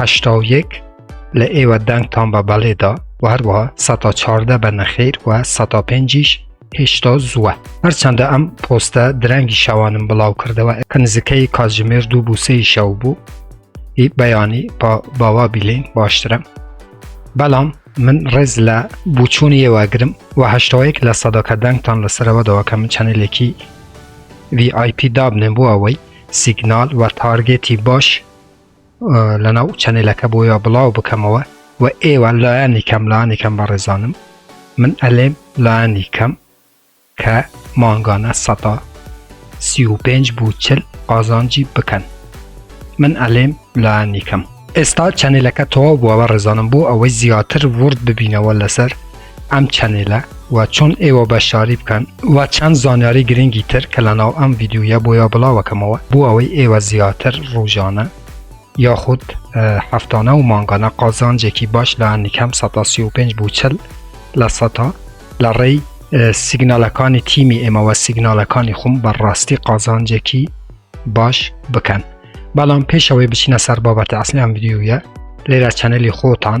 هەشتا و یەک لە ئێوە دەنگتان بە بەڵێدا و هەروەها سەتا چاردە بە نەخیر و سەتا پێنجیش هێشتا زووە هەرچەندە ئەم پۆستە درەنگی شەوانم بڵاو کردەوە کە نزیکەی کاتژمێر دوو بووسەی شەو بوو ئی بەیانی با باوا بیلین باشترە بەڵام من ڕێز لە بچوونی ئێوەگرم و هەشتەوەیەک لە سەدەکە دەنگتان لەسەرەوە دەوەکە من چەنێلێکی VIP دابنێن بۆ ئەوەی سیگنال و تارگێتی باش لەناو چەنێلەکە بۆیە بڵاو بکەمەوە و ئێوە لایەنی کەم لایەنی کەم بەڕێزانم من ئەلێم لایەنی کەم کە مانگانە سەدا سی و پێنج بوو چل قازانجی بکەن من ئەلێم لایەنی کەم ئێستا چەنێلەکە تەواو بووە بە ڕێزانم بۆ ئەوەی زیاتر ورد ببینەوە لەسەر ئەم چەنێلە وە چۆن ئێوە بە شاری بکەن وە چەند زانیاری گرنگی تر کە لە ناو ئەم ڤیدیویە بۆیا بڵاوەکەمەوە بۆ ئەوەی ئێوە زیاتر ڕوژانە یاخود هەفتانە و مانگانە قازانجێکی باش لە نکەم 135 بوو چل لە سەتا لە ڕێی سیگنالەکانی تیمی ئێمەوە سیگنالەکانی خۆم بەڕاستی قازانجێکی باش بکەن بەڵام پێشەوەی بچینە سەر بابەتی ئەسلیان بدیوە لێرە چەنەلی خۆتان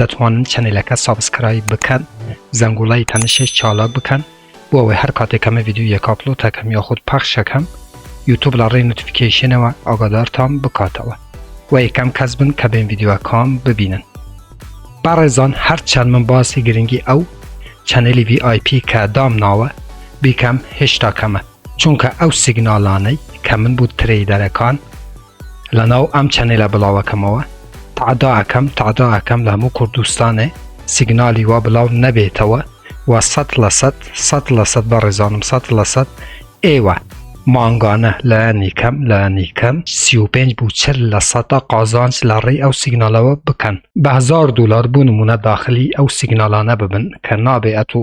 دەتوانن چەنێلەکە سابسکرایب بکەن زەنگوڵای تەنشێش چالاک بکەن بۆ ئەوەی هەر کاتێک کەمە ڤیدیو یەک ئاپلۆت هەکەم یاخود پەخشەکەم یوتوب لە ڕێی نوتفیکیشنەوە ئاگادارتان بکاتەوە و یەکەم کەس بن کە بێن ڤیدیوەکان ببینن بەڕێزان هەرچەند من باسی گرنگی ئەو چەنێلی VIP کە دام ناوە بیکەم هێشتا کەمە چونکە ئەو سیگنالانەی کە من بو ترەیدەرەکان لەناو ئەم چەنێلە بڵاوەکەمەوە تعدا ئەکەم تعدا ئەکەم لە هەموو کوردستانێ سیگنالی وا بڵاو نەبێتەوە و سەد لە سەد سەد لە سەد بە ڕێزانم سەد لە سەد ئێوە مانگانە لایەنی کەم لایەنی کەم 35 بوو چل لە سەدا قازانج لە ڕێی ئەو سیگنالەوە بکەن بە هزار دلار بوو نمونە داخلی ئەو سیگنالانە ببن کە نابێ ئەتو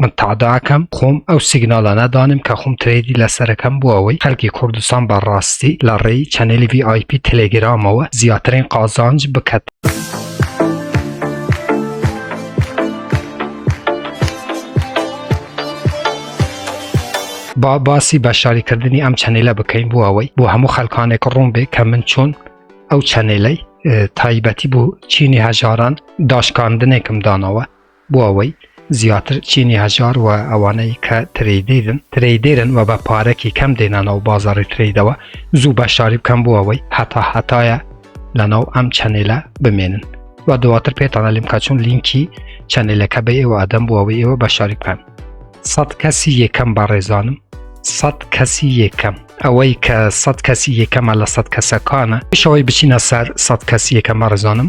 من تاداکەم خۆم ئەو سیگنالانە دانم کە خۆم ترێدی لەسەرەکەم بۆ ئەوەی خەلکی کوردستان بە ڕاستی لە ڕێی چەنێلی VIP تەلەگرامەوە زیاترین قازانج بکەت. با باسی بەشاریکردنی ئەم چەنێلە بکەین بۆ ئەوەی بۆ هەموو خەلکانێک ڕوون بێ کە من چۆن ئەو چەنێلەی تایبەتی بوو چینی هەژاران داشکاندنێکم دانەوە بۆ ئەوەی زیاتر چینی هەژار و ئەوانەی کە ترەیدیدن ترەیدێرن و بە پارەکی کەم دێنە ناو بازاری ترەیدەوە زوو بەشداری بکەم بۆ ئەوەی هەتا هەتایە لە ناو ئەم چەنێلە بمێنن و دواتر پێتانە لیم کەچون لینکی چەنێلەکە بە ئێوە ئەدەم بۆ ئەوەی ئێوە بەشداری بکەن سەد کەسی یەکەم بە ڕێزانم سەد کەسی یەکەم ئەوەی کە سەد کەسی یەکەمە لە سەد کەسەکانە شەوەی بچینە سەر سەد کەسی یەکەمە ڕزانم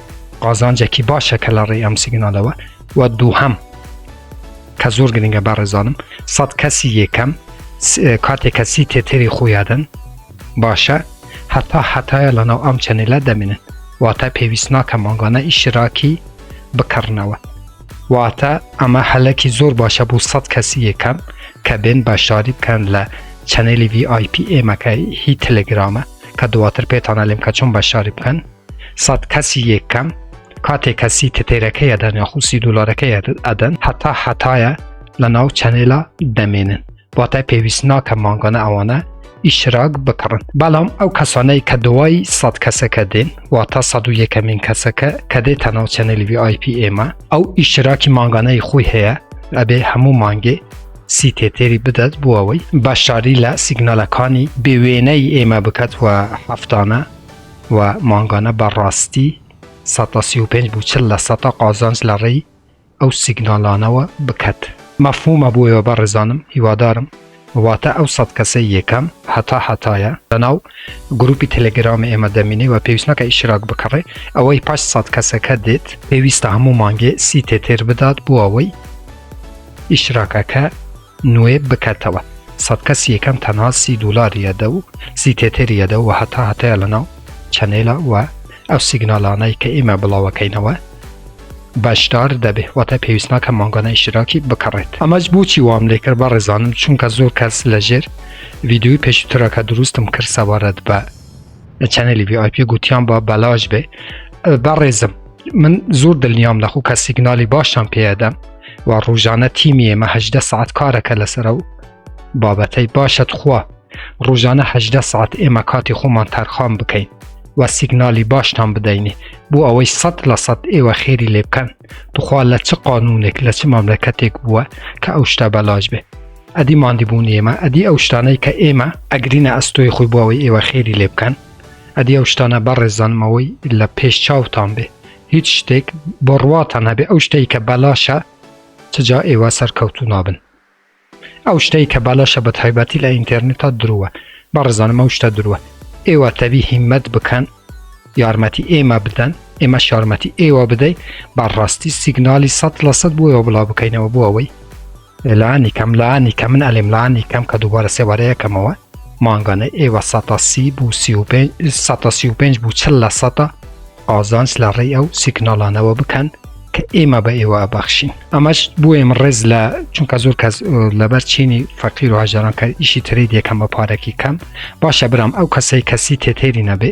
قازانجێکی باشە کە لە ڕێی ئەم سیگنالەوە و دووهەم کە زۆر گرنگە بە ڕێزانم سەد کەسی یەکەم کاتێک کەسی تێتێری خۆیادن باشە هەتا حتایە لەناو ئەم چەنێلە دەمێنن واتە پێویست ناکە مانگانە ئیشراکی بکڕنەوە واتە ئەمە هەلەکی زۆر باشە بۆ سەد کەسی یەکەم کە بێن بەشداری بکەن لە چەنێلی VIP ئێمەکە هی تەلگرامە کە دواتر پێتانە لێم کە چۆن بەشداری بکەن سەد کەسی یەکەم کاتێک کەسی تتێرەکەی ئەدەن یا خوسی دلارەکەی ئەدەن هەتا هەتایە لە ناو چەنێلا دەمێنن واتای پێویست ناکە مانگانە ئەوانە ئیشراک بکڕن بەڵام ئەو کەسانەی کە دوای سەد کەسەکە دێن وا تا سە و یەکەمین کەسەکە کە دێت تەناو چەنێلی VIP ئێمە ئەو ئیشراکی مانگانەی خۆی هەیە ئەبێ هەموو مانگێ سی تێتێری بدات بۆ ئەوەی بەشداری لە سیگنالەکانی بێوێنەی ئێمە بکات و هەفتانە و مانگانە بە ڕاستی سەتا سی و پێنج بو چل لە سەتا قازانج لە ڕێی ئەو سیگنالانەوە بکەت. مەفهومە بۆ ئێوە بەڕێزانم هیوادارم واتە ئەو سەد کەسەی یەکەم هەتا هەتایە لەناو گروپی تلگرامی ئێمە دەمینێ و پێویست نەکە ئیشراک بکڕێ ئەوەی پاش سەد کەسەکە دێت پێویستە هەموو مانگێ سی تێتێر بدات بۆ ئەوەی ئیشراکەکە نوێ بکەتەوە سەد کەسی یەکەم تەنها سی دولار یەدە و سی تێتێر یەدە و هەتا هەتایە لەناو چەنێلە و ئەو سیگنالانەی کە ئیمە بڵاوەکەینەوە بەشدار دەبێ واتە پێویست ناکە مانگانە ئیشتراکی بکڕێت ئەمەش بۆچی وام لێکرد بە ڕێزانم چونکە زۆر کەس لەژێر ڤیددیوی پێشوترەکە دروستم کرد سەبارەت بە لە چەنەلی VIP گوتیان با بەلاش بێ بەڕێزم من زۆر دڵنیام لەخۆ کە سیگنالی باشم پێدەم و ڕژانە تیمی ئێمەهدە سعات کارەکە لەسەر و بابەتەی باشەت خوا ڕژانەهدە سعات ئێمە کاتی خۆمان تەرخان بکەین و سیگنالی باشتان بدەینێ بۆ ئەوەی سەد لە سەد ئێوە خێری لێ بکەن توخوا لە چ قانونێک لە چ ماملەکەتێک بووە کە ئەو شتە بەلاش بێ ئەدی ماندیبوونی ئێمە ئەدی ئەو شتانەی کە ئێمە ئەگرینە ئەستۆی خۆی بۆ ئەوەی ئێوە خێری لێ بکەن ئەدی ئەو شتانە بەڕێزانمەوەی لە پێش چاوتان بێ هیچ شتێک بڕواتان هەبێ ئەو شتێک کە بەلاشە چجا ئێوە سەرکەوتو نابن ئەو شتەی کە بالاشە بە تایبەتی لە ئینتەرنێتە درووە بەڕزانم ئەو شتە درووە ئێوە تەبی هیمەت بکەن یارمەتی ئێمە بدەن ئێمە شارمەتی ئێوە بدەیت بەڕاستی سیگنالی سە لە سەد بۆەوە بڵاو بکەینەوە بۆ ئەوەی لانی کەم لانی کە من ئەلیم لانی کەم کە دووبارە سێوارەیەکەمەوە مانگانەی ئێوە سەسی بو سی پێ بوو چل لە سەدا ئازانس لە ڕێی ئەو سیکناڵانەوە بکەن کە ئێمە بە ئێوە ئەبەخشین ئەمەش بۆ ئێمە ڕێز لە چونکە زۆر کەس لەبەر چینی فەقیر و هاژاران کە ئیشی تری دەکەم بە پارەکی کەم باشە برام ئەو کەسەی کەسی تێتێری نەبێ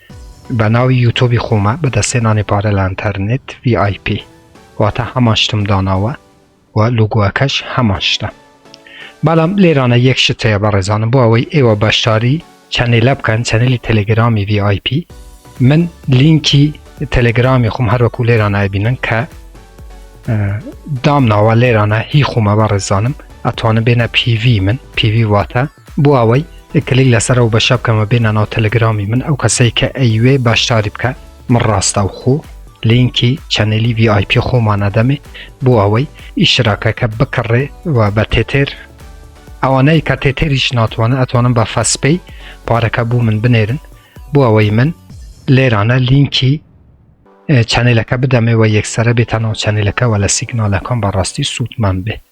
بە ناوی یوتۆبی خۆمە بە دەستێ نانی پارە لە ئەنتەرنێت VIP واتە هەمان شتم داناوە و لوگوەکەش هەمان شتە بەڵام لێرانە یەک شت هەیە بەڕێزانم بۆ ئەوەی ئێوە بەشداری چەنێلە بکەن چەنەلی تەلگرامی VIP من لینکی تەلگرامی خۆم هەروەکو لێران ئەبینن کە دامناوە لێرانە هی خۆمە بە ڕێزانم ئەتوانم بێنە پیوی من پیوی واتە بۆ ئەوەی کلیک لەسەر ئەو بەشە بکەمە بێنە ناو تەلەگرامی من ئەو کەسەی کە ئەیوێ باشداری بکە من ڕاستەوخۆ لینکی چەنەلی VIP خۆمانە دەمێ بۆ ئەوەی ئیشراکەکە بکڕێ و بە تێتێر ئەوانەی کە تێتێریش ناتوانە ئەتوانم بە فەسپەی پارەکە بوو من بنێرن بۆ ئەوەی من لێرانە لینکی چەنلەکە بدەمێ و یەکسرە بێتە ناو چەنلەکەەوە لە سیگنالەکان بەڕاستی سوودمان بێت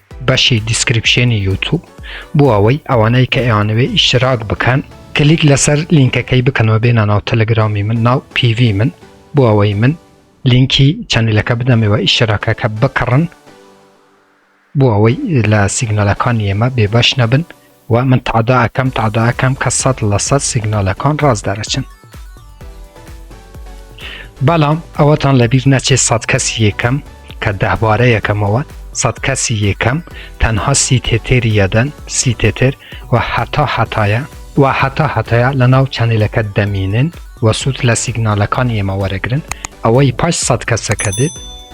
بەشی دیسکریپشێنی یوتوب بۆ ئەوەی ئەوانەی کە ئەیانەوێ ئیشتراک بکەن کلیک لەسەر لینکەکەی بکەنەوە بێنە ناو تەلەگرامی من ناو پیڤی من بۆ ئەوەی من لینکی چەنلەکە بدەمەوە ئیشتراکەکە بکڕن بۆ ئەوەی لە سیگنالەکانی ئێمە بێبەش نەبن وە من تەعدا ئەکەم تەعدا ئەکەم کە سەد لە سەد سیگنالەکان ڕاست دەرەچن بەڵام ئەوەتان لەبیر نەچێت سەد کەسی یەکەم کە دەهبارە یەکەمەوە سەد کەسی یەکەم تەنها سی تێتێری یەدەن سی تێتێر و هەتا هەتایە و هەتا هەتایە لە ناو چەنێلەکە دەمینن و سوود لە سیگنالەکانی ئێمە وەرەگرن ئەوەی پاش سەد کەسەکە دێت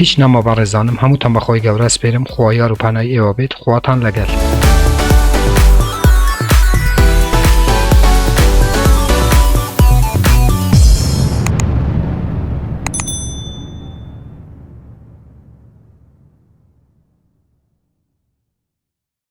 هیچ نەما بەڕێزانم هەمووتان بەخوای گەورە سپێرم خوا یار و پەنای ئێوە بێت خواتان لەگەل.